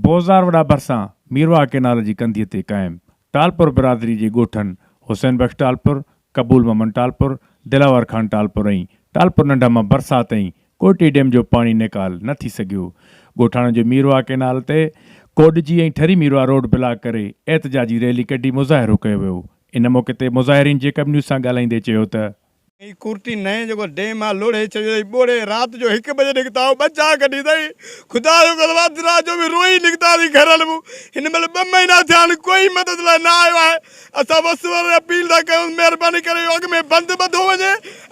بوزار وڏا ڀرسان ميرواهه ڪئنال جي ڪنڌيء تي قائم ٽالپر برادري جي ڳوٺن حسين بخش ٽالپر، قبول محمد ٽالپر، دلاور خان ٽالپر ۽ ٽالپر ننڍا مان برسات تائين ڪوئٽي ڊيم جو پاڻي نيڪال نه ٿي سگهيو. ڳوٺاڻن جو ميرواهه ڪئنال تي ڪوڏجي ۽ ٺري ميرواهه روڊ بلاڪ ڪري احتجاجي ريلي ڪڍي مظاهرو ڪيو ويو. ان موقعي تي مظاهرين جيڪب نيوز سان ڳالهائيندي چيو ته، هي ڪورٽي نئين جيڪو ڊيم آهي لوڙهي ڇڏيو اٿئي ٻوڙي رات جو هڪ بجي نڪتا هو ٻه چار ڪڍي اٿئي خدا جو قسم اڌ رات جو به روئي نڪتاسين گهرل مون هن مهل ٻه مهينا ٿيا آهن ڪوئي مدد لاء نه آيو آهي اسان وس وري اپيل ٿا ڪيون مهرباني ڪري اهو اڳ ۾ بند ٻڌو وڃي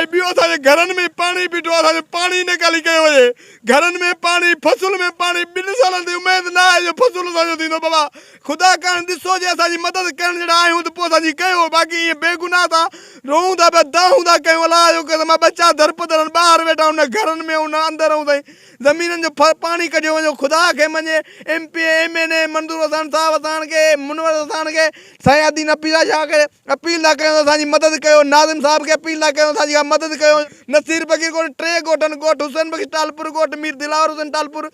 ۽ ٻيو اسان جي گهرن ۾ پاڻي بيٺو آهي اسان جو پاڻي نيڪالي ڪيو وڃي گهرن ۾ پاڻي فصل ۾ پاڻي ٻن سالن تي اميد نه آهي جو فصل اسان جو ٿيندو بابا خدا ڪرڻ ڏسو جي اسان جي مدد ڪرڻ جهڙا آهيون ته پوء اسان جي ڪيو، باقي ائين بي گناهه ٿا روئون ٿا پيا دانهون ٿا ڪيون الله جو قسم آهي ٻچا درپدرن ٻاهر ويٺا آهن نه گهرن ۾ نه اندر ائون سائين زمينن جو پاڻي ڪڍيو وڃو خدا کي مڃي M P A M N A Manzoor Hussain صاحب اساڻ کي منور حساڻ کي سائين ادي نه پيسا شاهه کي اپيل ٿا ڪيون ته اسان جي مدد ڪيو. ناظم صاحب کي اپيل ٿا ڪيون ته اسان جي اها مدد ڪيو. نصير فقير ڳوٺ ٽي ڳوٺن ڳوٺ حسين بخش ٽالپر ڳوٺ مير دلاور حسين ٽالپر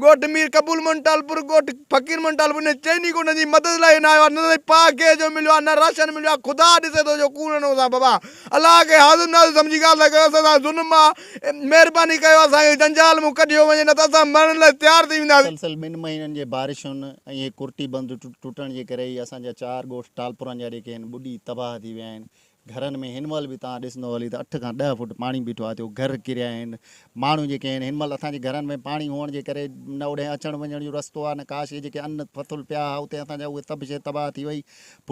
ڳوٺ مير قبول موهن ٽالپر ڳوٺ فقير موهن ٽالپر انهن چئني ڳوٺن جي مدد لاء نه آيو آهي نه سائين پاء گيس جو مليو آهي نه راشن مليو آهي خدا ڏسي ٿو جو ڪوڙ نه هوسان بابا الله کي حاضر ناظر سمجهي ڳالهه ٿا ڪيو اسان سان ظلم آهي مهرباني ڪيو اسان کي جنجال مون ڪڍيو وڃي نه ته اسان مرڻ لاء تيار ٿي وينداسين. مسلسل ٻن مهينن جي بارشن ۽ هڪ ڪرٽي بند ٽٽڻ جي ڪري ئي اسان جا چار ڳوٺ ٽالپرن جا جيڪي آهن ٻڏي تباهه ٿي ويا آهن گهرن ۾ هن مهل به توهان ڏسندو هلي ته اٺ کان ڏهه فوٽ پاڻي بيٺو آهي ٿيو گهر ڪريا آهن ماڻهو جيڪي آهن هن مهل اسان جي گهرن ۾ پاڻي هئڻ جي ڪري نه اوڏهين اچڻ وڃڻ جو رستو آهي نه ڪاشي جيڪي ان پٿل پيا هئا اتي اسان جا اهي تبشي تباهه ٿي وئي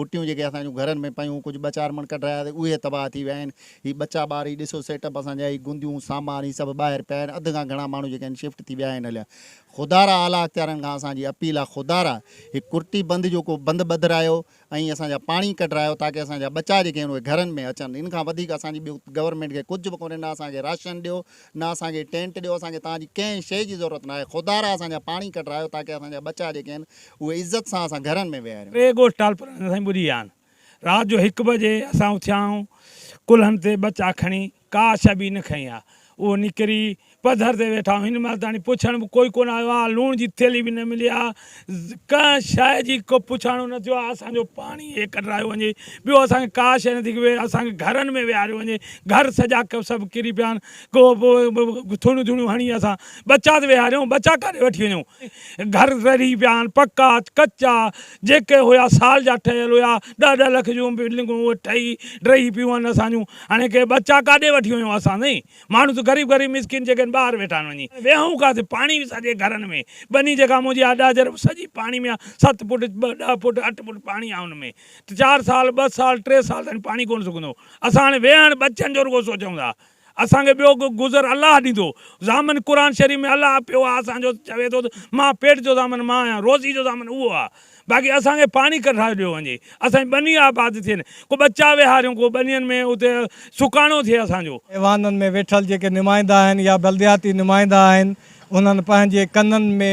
پٽيون جيڪي اسان جون گهرن ۾ پيون ڪجهه ٻه چار مڻ ڪڍرايا سي اهي تباهه ٿي ويا آهن هي ٻچا ٻار هي ڏسو سيٽ اپ اسان جا هي گنديون سامان هي سڀ ٻاهر پيا آهن اڌ کان گهڻا ماڻهو جيڪي آهن شفٽ ٿي ويا آهن هليا خدارا اعليٰ اختيارن کان اسان جي اپيل آهي خدارا هي ڪرٽي بند جو ڪو بند ٻڌرايو ۽ اسان جا پاڻي ڪڍرايو تاڪه اسان جا ٻچا جيڪي آهن اهي گهرن ۾ اچن ان کان وڌيڪ اسان جي ٻيو گورنمينٽ کي ڪجهه به ڪونهي نه اسان کي راشن ڏيو نه اسان کي ٽينٽ ڏيو اسان کي توهان جي ڪنهن شيء جي ضرورت ناهي خدا را اسان جا پاڻي ڪڍرايو تاڪه اسان جا ٻچا جيڪي آهن اهي عزت سان اسان گهرن ۾ ويهاريون. ٽي ڳوٺ ٽالپرن ۾ سائين ٻڏي ويا آهن رات جو هڪ بجي اسان اٿيا آهيون ڪلهن تي ٻچا کڻي ڪا شيء به نه کنئي آهي اهو نڪري پڌر تي ويٺا آهيون هن مهل تائين پڇڻ به ڪوئي ڪونه آيو آهي لوڻ جي ٿيلهي به نه ملي آهي ڪنهن شيء جي ڪو پڇاڻو نه ٿيو آهي، اسان جو پاڻي هي ڪڍرايو وڃي، ٻيو اسان کي ڪا شيء نٿي ڪبي، اسان کي گهرن ۾ ويهاريو وڃي، گهر سڄا سڀ ڪري پيا آهن، ڪو ٿوڻيون ٿوڻيون هڻي اسان ٻچا ته ويهاريون، ٻچا ڪاڏي وٺي وڃون، گهر رڙهي پيا آهن، پڪا ڪچا، جيڪي هيا سال جا ٺهيل هيا، ڏهه ڏهه لک جون بلڊنگون ٺهي ڊهي پيون آهن اسان جون، هاڻي ڪي ٻچا ڪاڏي وٺي وڃون اسان سائين، ماڻهو ته غريب غريب مسڪين جيڪي آهن ٻاهر ويٺا آهن وڃي ويهون ڪاٿي پاڻي به سڄي گهرن ۾ ٻني جيڪا منهنجي آهي ڏاجهر به سڄي پاڻي ۾ آهي ست فوٽ ٻه ڏهه فوٽ اٺ فوٽ پاڻي آهي ان ۾ ته چار سال ٻه سال ٽي سال تائين پاڻي ڪونه سڪندو اسان هاڻي ويهڻ ٻچن جو رڳو سوچون ٿا اسان کي ٻيو ڪو گذر الله ڏيندو ضامن قرآن شريف ۾ الله پيو آهي اسان جو چوي ٿو ته مان پيٽ جو ضامن مان آهيان روزي جو ضامن اهو آهي باقي اسان کي پاڻي ڪڍرائي ڏيو وڃي اسان جي ٻني آباد ٿين ڪو ٻچا ويهاريون ڪو ٻنين ۾ اتي سڪاڻو ٿئي اسان جو. ايوانن ۾ ويٺل جيڪي نمائندا آهن يا بلدياتي نمائندا آهن انهن پنهنجي ڪنن ۾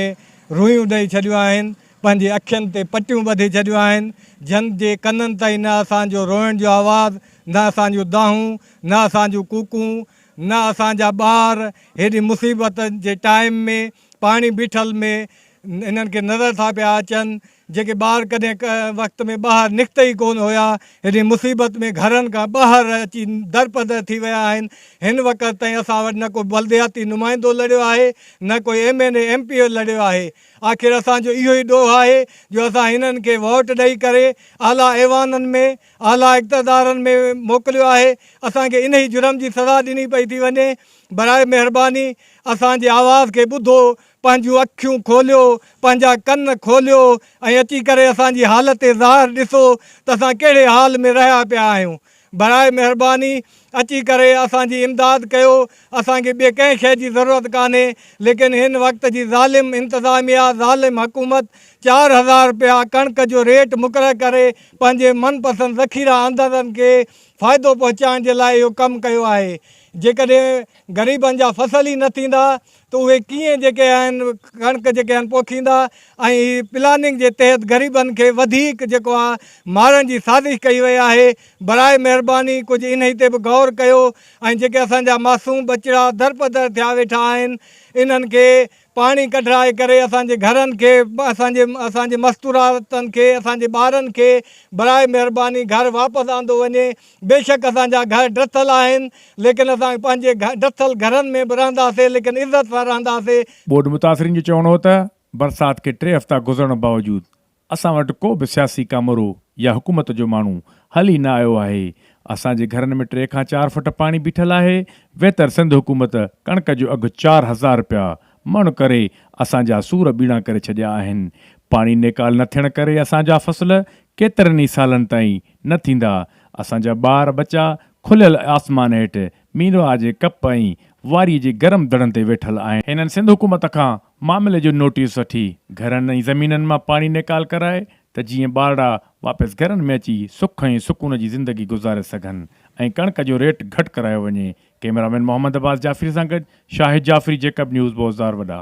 روئيون ڏئي ڇڏيون آهن پنهنجي اکين تي پٽيون ٻڌي ڇڏيون آهن جن جي ڪنن تائين نه اسان جو روئڻ جو آواز نه اسان جون دانهون نه اسان جون ڪوڪون نه اسان جا ٻار هيڏي مصيبت جي ٽائيم ۾ پاڻي بيٺل ۾ هنن کي نظر ٿا پيا اچن، جيڪي ٻار ڪڏهن ڪنهن وقت ۾ ٻاهر نڪتا ئي ڪونه هيا، هيڏي مصيبت ۾ گهرن کان ٻاهر اچي درپدر ٿي ويا آهن. هن وقت تائين اسان وٽ نه ڪو بلدياتي نمائندو لڙيو آهي، نه ڪو M N A M P O لڙيو آهي. آخر اسان جو اهو ئي ڏوهه آهي جو اسان هنن کي ووٽ ڏئي ڪري اعليٰ ايوانن ۾، اعليٰ اقتدارن ۾ موڪليو آهي. اسان کي انهي جرم جي سزا ڏني پئي ٿي وڃي. براء مهرباني اسان جي آواز کي ٻڌو، پنهنجون اکيون کوليو، پنهنجا ڪن کوليو ۽ اچي ڪري اسان جي حالت ظاهر ڏسو ته اسان ڪهڙي حال ۾ رهيا پيا آهيون. براء مهرباني اچي ڪري اسان جي امداد ڪيو، اسان کي ٻي ڪنهن شيء جي ضرورت ڪانهي ليڪن هن وقت جي ظالم انتظاميا، ظالم حڪومت چار هزار رپيا ڪڻڪ جو ريٽ مقرر ڪري پنهنجي من پسند ذخيره اندازن کي فائدو پهچائڻ جي لاء اهو ڪم ڪيو آهي. جيڪڏهن غريبن جا فصل ئي نه ٿيندا ته اهي ڪيئن جيڪي آهن ڪڻڪ جيڪي آهن پوکيندا ۽ هي پلاننگ جي تحت غريبن کي وڌيڪ جيڪو آهي مارڻ جي سازش ڪئي وئي آهي براء مهرباني ڪجهه انهي تي به غور ڪيو ۽ جيڪي اسان جا معصوم ٻچڙا درپدر ٿيا ويٺا آهن انهن کي پاڻي ڪڍرائي ڪري اسان جي گهرن کي اسان جي اسان جي مستوراتن کي اسان جي ٻارن کي براهه مهرباني گهر واپس آندو وڃي بيشڪ اسان جا گهر ڊٿل آهن ليڪن اسان پنهنجي ڊٿل گهرن ۾ به رهنداسي ليڪن عزت سان رهنداسي. ٻوڏ متاثرين جو چوڻ هو ته برسات کي ٽي هفتا گذرڻ باوجود اسان وٽ ڪو به سياسي ڪامورو يا حڪومت جو ماڻهو هل ئي نه آيو آهي، اسان جي گهرن ۾ ٽي کان چار فٽ پاڻي بيٺل آهي، ويتر سنڌ حڪومت ڪڻڪ جو اگهه چار هزار رپيا مڻ ڪري اسان جا سور ٻيڻا ڪري ڇڏيا آهن، پاڻي نيڪال نه ٿيڻ ڪري اسان جا فصل ڪيترن ئي سالن تائين نه ٿيندا، اسان جا ٻار ٻچا کليل آسمان هيٺ مينرواهه جي ڪپ ۽ واري جي گرم دڙن تي ويٺل آهن. هنن سنڌ حڪومت کان معاملي جو نوٽيس وٺي گهرن ۽ زمينن مان پاڻي نيڪال ڪرائي ته جيئن ٻارڙا واپس گهرن ۾ اچي سک ۽ سڪون جي زندگي گذاري سگهن ۽ ڪڻڪ جو ريٽ گهٽ ڪرايو وڃي ڪئميرامين محمد عباس جعفري سان گڏ شاهد جعفري جيڪب نيوز بوزدار وڏا.